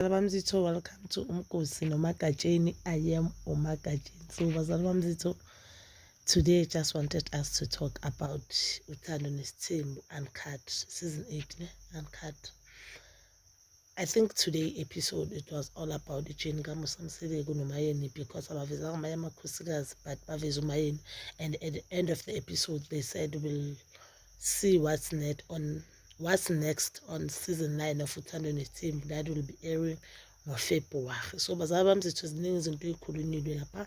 bazalwane bami zitho welcome to umgosi nomagatsheni i am umagatsheni so bazalwane bami zitho today just wanted us to talk about uthando nesithembu uncut season 8 ne uncut I think today episode it was all about ijeni kamusa mseleku nomayeni because abavezanga amanye amakhosikazi but baveze umayeni and at the end of the episode they said we'll see what's net on what's next on season 9 of uthando nethimbu that will be airing ngofebruwari so bazali bami zethu ziningi izinto ey'khulunilwe lapha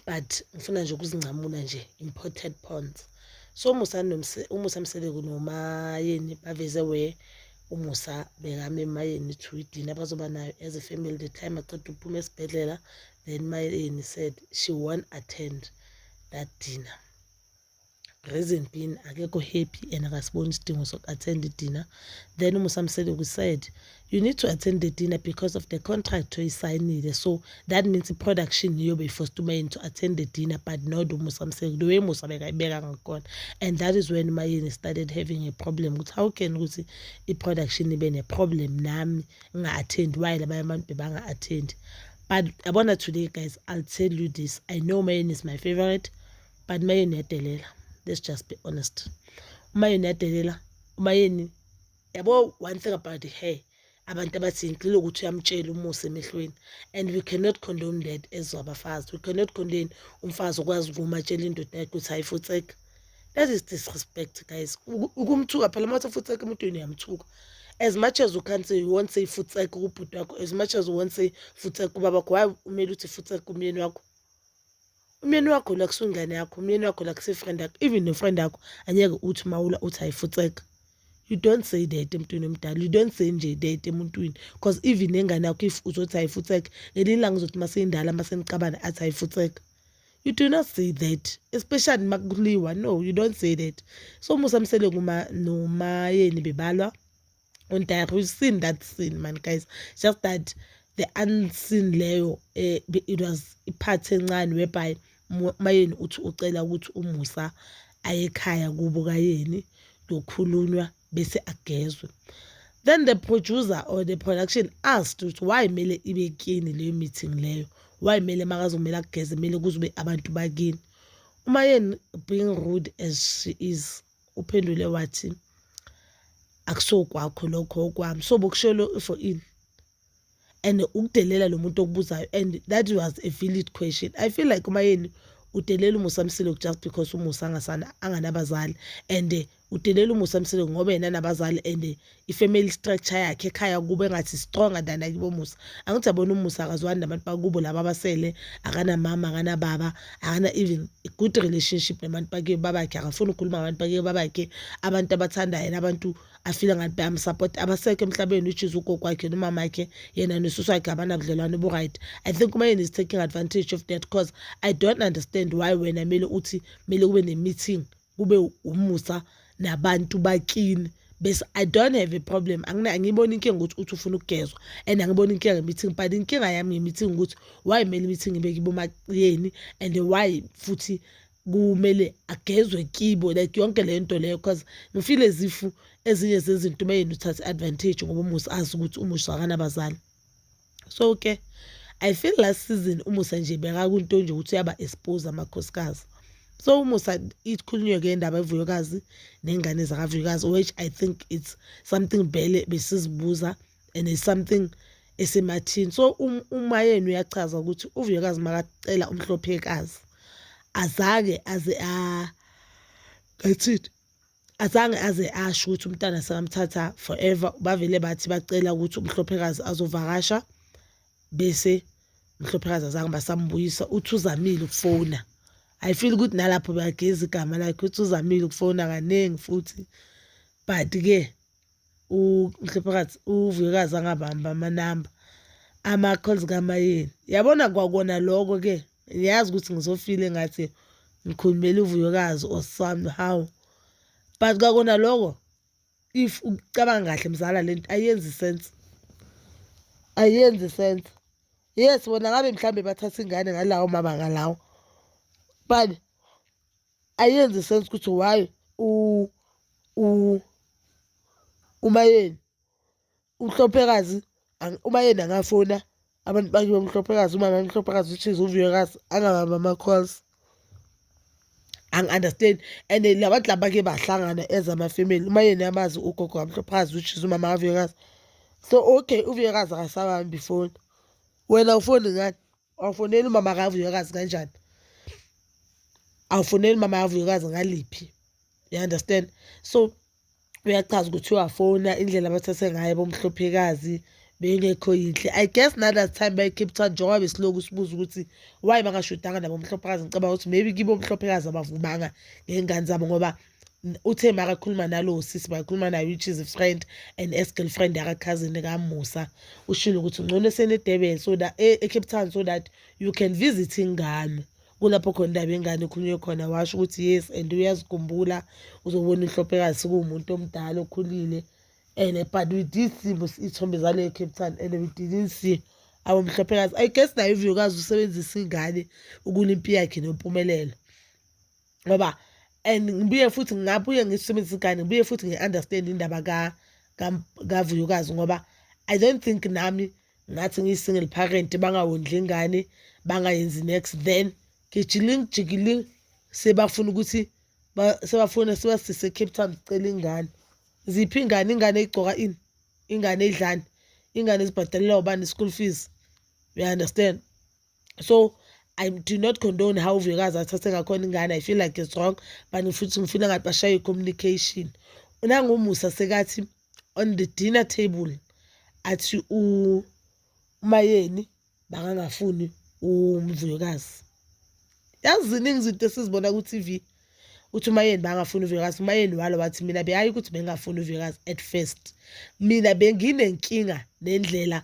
but ngifuna nje ukuzincamula nje imported ponds so umusa umusa mseleku nomayeni baveze we umusa bekame emayeni to idina bazoba nayo as a family the time aqeda uphuma esibhedlela then mayeni said she won't attend that dinner reason being akekho happy and akasiboni isidingo soku-attend i-dinner then umusamsele we-said you need to attend the dinner because of the contract oyisayinile so that means i-production iyobe i-forced umayeni to attend the dinner but not umusamsele the way musa bekayibeka ngakhona and that is when umayeni started having a problem ukuthi how can ukuthi i-production ibe ne-problem nami nginga-attend why labanye abantu bebanga-attend but yabona today guys i'll tell you this i know umayeni is my favorite but umayeni uyadelela let's just be honest umayeni uyadelela umayeni yabo one thing about her abantu abathi ngicela ukuthi uyamtshela umusa emehlweni and we cannot condone that as abafazi we cannot condone umfazi okwazi ukumatshela indoda yakhe ukuthi hayifutseka that is disrespect guys ukumthuka phela uma uthi futseka emntwini uyamthuka as much as you can say you won't say futseka kubhuti wakho as much as you won't say futseka ubaba wakho why umele uthi futseka umyeni wakho umyeni wakho lo akusungane yakho umyeni wakho lo akusefriend yakho even nofriend yakho anyeke uthi mawula uthi ayifutseka you don't say that emntwini omdala you don't say nje that emuntwini because even nengane yakho if uzothi ayifutseka ngelinye ilanga uzothi maseyindala maseniqabana athi ayifutseka you do not say that especially makuliwa no you don't say that so musa msele noma nomayeni bebalwa and I have seen that scene man guys just that the unseen leyo eh, it was ipart encane whereby mayeni uthi ucela ukuthi umusa ayekhaya kubo kayeni kuyokhulunywa bese agezwe then the producer or the production asked ukuthi why kumele ibe kini leyo meeting leyo why kumele makazomele ageze kumele kuzobe abantu bakini uma yeni being rude as she is uphendule wathi akusokwakho lokho okwami so bokushelo for in and ukudelela lo muntu okubuzayo and that was a valid question i feel like umayeni udelela umusa msileko just because umusa angasana anganabazali and udelela umusa msileko ngoba yena nabazali and i-family structure yakhe ekhaya kubo engathi stronger than akibo musa angithi yabona umusa akazwani nabantu bakubo laba abasele akanamama akanababa akana even good relationship nabantu bakiyo babakhe akafuni ukukhuluma ngabantu bakiyo babakhe abantu abathandayo nabantu afile ngathi bayamsupport abasekho emhlabeni which is ugogo wakhe nomama wakhe yena nosusu wakhe abanabudlelwane obu-right i think umayeni is taking advantage of that cause i don't understand why wena mele uthi mele kube ne-meeting kube umusa nabantu bakini bese i don't have a problem angiyiboni inkinga ukuthi uthi ufuna ukugezwa and angiboni inkinga nge-meeting but inkinga yami nge-meeting ukuthi why kumele i-meeting ibe kibomaciyeni and why futhi kumele agezwe kibo like yonke le nto leyo because ngifile zifu ezinye zezinto uma yena uthathe i-advantage ngoba umusa azi ukuthi umusa akanabazali so ke i feel last season umusa nje bekakunto nje ukuthi uyaba expose amakhosikazi so umusa ikhulunywe ke indaba evuyokazi nengane zakavuyokazi which i think it's something bele besizibuza and it's something esemathini so um, uma yenu uyachaza ukuthi uvuyokazi makacela umhlophekazi azake aze a ngathini azange aze asho ukuthi umntana sekamthatha forever bavele bathi bacela ukuthi umhlophekazi azovakasha bese umhlophekazi azange basambuyisa uthi uzamile ukufona i feel ukuthi nalapho beyageza igama lakhe uthi uzamile ukufona kaningi futhi but-ke uMhlophakathi uVuyekazi angabamba amanamba ama-calls kaMayeni yabona kwakona loko-ke ngiyazi ukuthi ngizofile ngathi ngikhulumela uVuyekazi or somehow but kwakona loko if ucabanga kahle mzala le nto ayenzi sense ayenzi sense yes bona ngabe mhlawumbe bathatha ingane ngalawo mabanga lawo but ayenzi sense ukuthi why u u umayeni umhlophekazi umayeni angafona abantu bakibo umhlophekazi umama umhlophekazi which is uviyokazi angabamba ama-calls angi-understand and la bantu laba ke bahlangana as amafemeli uma yena amazi ugogo kamhlophazi which is umama kaviyokazi so okay uviyokazi akasabambi ifoni wena ufoni ngani awufoneli umama kavuyokazi kanjani awufoneli umama kavuyokazi ngaliphi you understand so uyachaza ukuthi uyafona indlela abathathe ngayo bomhlophekazi bengekho yinhle i guess na that time bayi-cape town njengoba besiloku sibuza ukuthi why bangashodanga nabomhlophekazi ngicabanga ukuthi maybe kibo omhlophekazi abavumanga ngey'ngane zabo ngoba uthe makakhuluma nalowo sisi bakakhuluma naye which is friend and as girlfriend yakakhazini kamusa ushilo ukuthi ngcono esenedurban so that e, ecape town so that you can visit ingane kulapho khona indaba yengane ekhulunywe khona washo ukuthi yes and uyazikhumbula uzobona inhlophekazi sikuwumuntu omdala okhulile and but we did see iy'thombe zaleyo cape town and we didn't see our mhlophekazi i guess nayo ivuyokazi usebenzisa ingane ukulimpi yakhe nempumelelo ngoba and ngibuye futhi ngabuye ngisebenzisa igane ngibuye futhi ngi-understand indaba kavuyokazi ngoba i don't think nami ngathi ngiyi-single parent bangawondli ingane bangayenzi next then gijiling jikiling sebafuna ukuthi sebafuna sebasise cape town sicela ingane ziphi ingane ingane igcoka ini ingane idlani ingane ezibhadalelwa ubani i-school fees you understand so I do not condone how Vuyekazi athathe ngakhona ingane I feel like it's wrong but futhi ngifuna ngathi bashaye communication unangumusa sekathi on the dinner table athi umayeni bakangafuni umvuyokazi yazi ziningi izinto esizibona ku-tv uthi umayeni bangafuni uvuyokazi umayeni walo wathi mina beyayi ukuthi bengingafuni uvuyokazi at first mina benginenkinga nendlela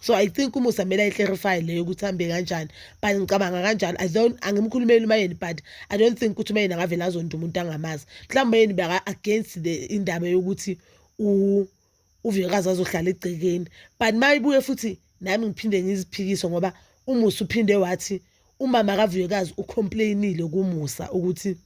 so i think umusa kumele ayiclarify leyo ukuthi hambe kanjani but ngicabanga kanjalo i don't angimkhulumeli umayeni but i don't think ukuthi umayeni angavele azonda umuntu angamazi mhlawumbe umayeni beka against the indaba yokuthi uvikazi azohlala egcekeni but uma ibuye futhi nami ngiphinde ngiziphikise ngoba umusa uphinde wathi umama kavuyekazi ucomplainile kumusa ukuthi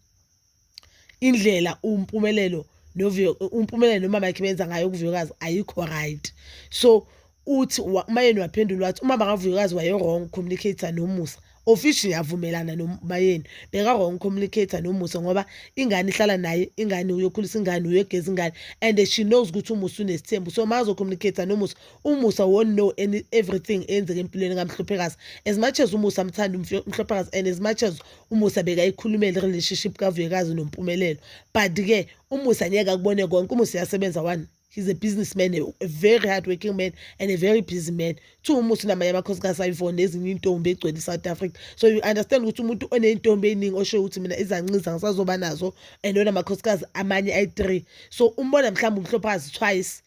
indlela umpumelelo novuyo umpumelelo nomama yakhe benza ngayo ukuvuyokazi ayikho right so uthi umayeni waphendula wathi umama kavuyokazi waye-wrong communicator nomusa official ngiyavumelana nomayeni beka-wrong communicator nomusa ngoba ingane ihlala naye ingane uyokhulisa ingane uyogeza ingane and she knows ukuthi umusa unesithembu so mazo communicator nomusa umusa won't know any everything eyenzeka empilweni kamhluphekazi as much as umusa amthanda umhluphekazi and as much as umusa bekayikhulumela i-relationship kavuyekazi nompumelelo but-ke umusa ngeke akubone konke umusa uyasebenza one he's a businessman a very hard working man and a very busy man two umusa unamanye amakhosikazi ayivona ezinye intombi egcwele i-south africa so you understand ukuthi umuntu oney'ntombi ey'ningi osho ukuthi mina izanqiza ngisazoba nazo and onamakhosikazi amanye ayi-three so umbona mhlawumbe umhlophazi twice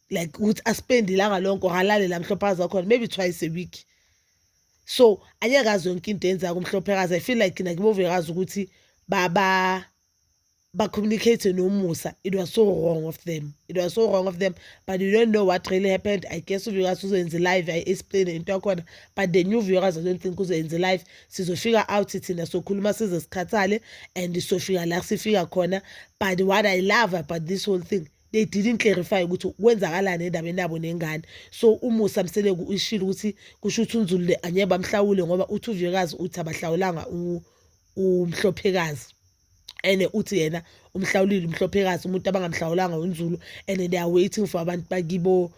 like ukuthi aspende ilanga lonke or alale la mhlophazi wakhona maybe twice a week so anyakazi yonke into yenza kumhlophekazi i feel like nakibo vuyakazi ukuthi baba ba-communicate nomusa it was so wrong of them it was so wrong of them but you don't know what really happened i guess uvuyakazi uzoyenza live i-explain into yakhona but the new vuyakazi i don't think uzoyenza live sizofika out thina sokhuluma size sikhathale and sofika la sifika khona but what i love about this whole thing they didn't clarify ukuthi kwenzakalani endabeni yabo nengane so umusa mseleku uyishilo ukuthi kusho ukuthi unzulule angeke bamhlawule ngoba uthi uviyekazi uthi abahlawulanga umhlophekazi and uthi yena umhlawulile umhlophekazi umuntu abangamhlawulanga unzulu and they are waiting for abantu bakibo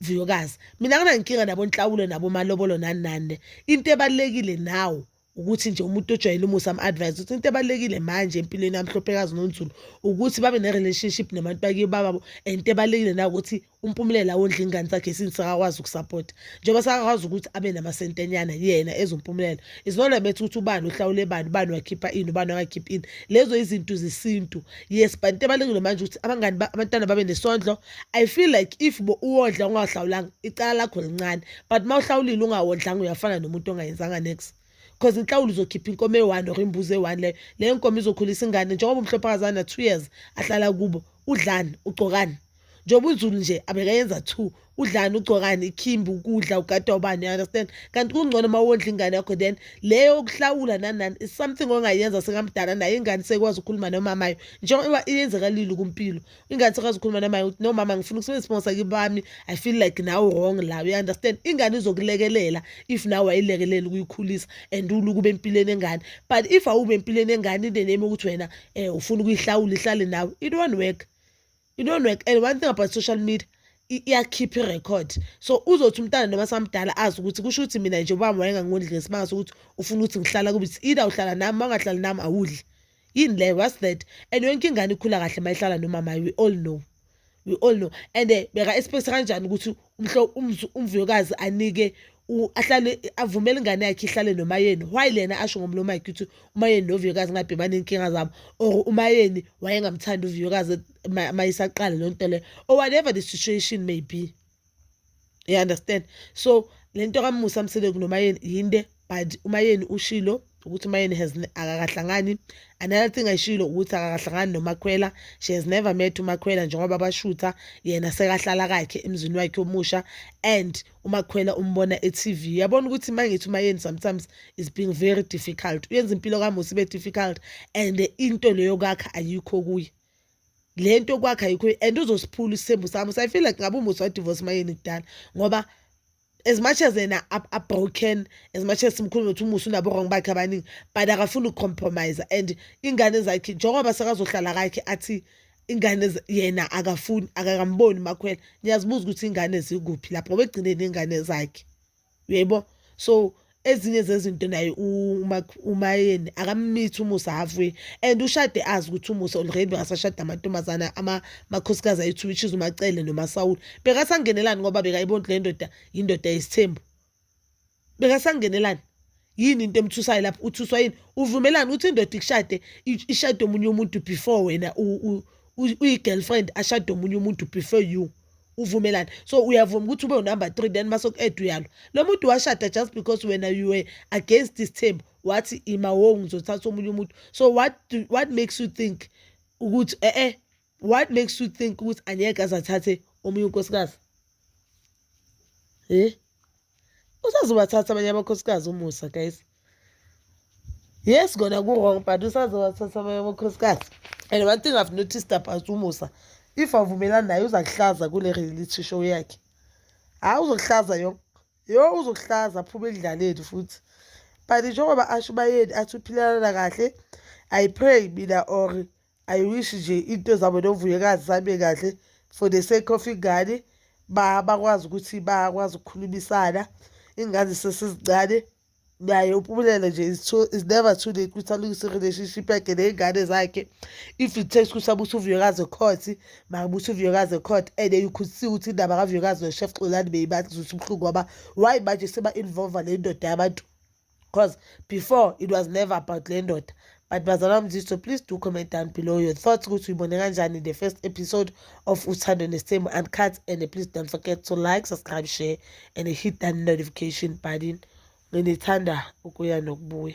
vuyokazi mina nginankinga nabo nhlawulo nabo malobolo nani nani into ebalekile nawo ukuthi nje umuntu ojwayele umusa am-advise ukuthi into ebalulekile manje empilweni yamhlophekazi nonzulu ukuthi babe ne-relationship nabantu bakiyo bababo and into ebalulekile nawukuthi umpumulele awondla ingane zakhe since sakakwazi ukusapota njengoba sakakwazi ukuthi abe namasentenyana yena ezompumulela isinona bethi ukuthi ubani uhlawule bani ubani wakhipha ini ubani wakakhipha ini lezo izinto zesintu yes but into ebalulekile manje ukuthi abangani abantwana babe nesondlo i feel like if bo uwondla ungahlawulanga icala lakho lincane but uma uhlawulile ungawondlanga uyafana nomuntu ongayenzanga next because inhlawulo uzokhipha inkomo eyi-one or imbuzi eyi-one leyo leyo nkomo izokhulisa ingane njengoba umhlophakazana na-two years ahlala kubo udlani ugcokani njengoba unzulu nje abekayenza two udlani ugcokani ikhimbi ukudla ugadwa ubani understand kanti kungcono uma wondla ingane yakho then leyo okuhlawula nanani is something ongayenza sekamdala naye ingane sekwazi ukukhuluma nomamayo njengoba iyenzakalile kumpilo ingane sekwazi ukukhuluma namaye ukuthi no mama ngifuna ukusebenzisa isibongo sakibami i feel like nawe wrong la you understand ingane izokulekelela if nawe wayilekelela ukuyikhulisa and uluku bempilweni engane but if awube empilweni engane ineneme ukuthi wena um ufuna ukuyihlawula ihlale nawe it won't work it won't work and one thing about social media iyakhipha irecord so uzothi umntana noma samdala azi ukuthi kusho ukuthi mina nje ubami wayengangondli ngesimanga sokuthi ufuna ukuthi ngihlala kubi either uhlala nami uma ungahlali nami awudli yini leyo what's that and yonke ingane ikhula kahle uma ihlala nomama we all know we all know and eh, beka esipekisa kanjani ukuthi umhlo umvuyokazi anike ahlale avumele ingane yakhe ihlale nomayeni why lena asho ngomlomo wakhe ukuthi umayeni novuyokazi ngabhebane inkinga zabo or umayeni wayengamthandi uvuyokazi mayisaqala lonto le or whatever the situation may be you understand so le nto kamusa mseleku nomayeni yinde but umayeni ushilo ukuthi umayeni has akakahlangani another thing ayishilo ukuthi akakahlangani nomakhwela she has never met umakhwela njengoba bashutha yena sekahlala kakhe emzini wakhe omusha and umakhwela umbona e-tv yabona ukuthi uma ngithi umayeni sometimes is being very difficult uyenza impilo kamusa ibe difficult and into leyo kakha ayikho kuye le nto kwakhe ayikho and uzosiphula isithembu sami so i feel like ngabe umusa wadivorce mayeni kudala ngoba as much as yena abroken as much as simkhulume ukuthi umusa unabo-wrong bakhe abaningi but akafuni ukucompromise and ingane zakhe njengoba sekazohlala kakhe athi ingane yena akafuni akakamboni makhwela niyazibuza ukuthi ingane zikuphi lapho ngoba egcine ney'ngane zakhe uyaybo so ezinye zezinto naye umayeni akammithi umusa halfway and ushade azi ukuthi umusa already bekasashada amantombazana amakhosikazi ayi-two which is umacele nomasawula bekasangenelani ngoba bekayibonti le ndoda yindoda yesithembu bekasangenelani yini into emthusayo lapho uthuswa yini uvumelani uthi indoda ikushade ishade omunye umuntu before wena uyi-girlfriend ashade omunye umuntu before you uvumelani so uyavuma ukuthi ube unumber three then mase ku-ed uyalo lo muntu washada just because wena you were against this thembu wathi imawo ngizothatha omunye umuntu so what, what makes you think ukuthi e-e eh, eh, what makes you think ukuthi angeke aze athathe omunye unkosikazi eh usazobathatha abanye amakhosikazi umusa guys yes kona ku-wrong but usazobathatha abanye amakhosikazi and one thing i've noticed about umusa if avumelani naye uza kuhlaza kule reality show yakhe hhayi ah, uzokuhlaza yo yo uzokuhlaza aphume edlaleni futhi but njengoba asho ubayeni athi uphilelana kahle i pray mina or i wish nje into zabo novuyekazi zihambe kahle for the sake of ingane bakwazi ukuthi bakwazi ukukhulumisana ingane zisesezincane naye upumelele nje is never too late ukuthi alungise i-relationship yakhe ney'ngane zakhe if it takes ukuthi abuthi uvuyokazi ekhothi makabuthi uvuyokazi ekhothi and you could see ukuthi indaba kavuyokazi noshef xolani beyibaza ukuthi ubuhlungu ngoba why manje seba-involva le ndoda yabantu because before it was never about le ndoda but bazalwa mziso please do comment down below your thoughts ukuthi uyibone kanjani the first episode of uthando nesimo uncut and please don't forget to like subscribe share and hit that notification button nginithanda ukuya nokubuya